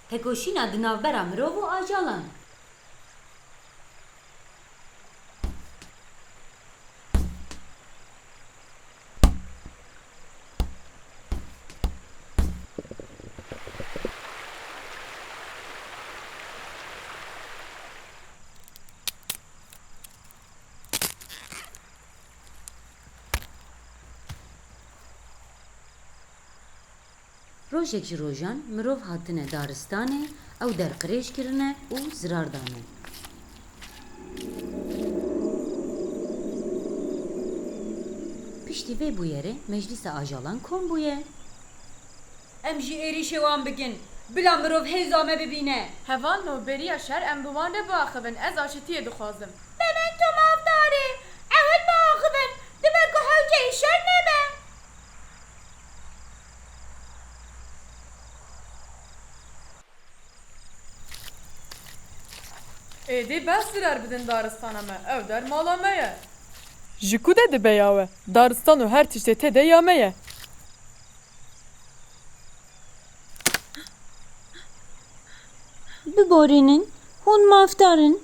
Tekoşîna di navbera mirov û ajalan. Rojek ji rojan mirov hatine daristanê, ew derqirêj kirine û zirar dane. Piştî vê bûyerê meclîsa ajalan kom bûye. Em jî êrîşê wan bikin. Bila mirov hêza me bibîne. Heval no beriya şer em bi wan re biaxivin ez aşitiyê dixwazim. Memento maldarê, ewil biaxivin, dibe ku hewce îşev nebe. Êdî behs zirer bidin daristana me, ew der mala me ye. Ji ku de dibe ya we, daristan û her tiştê tê de ya me ye. Biborînin, hûn mafdar in,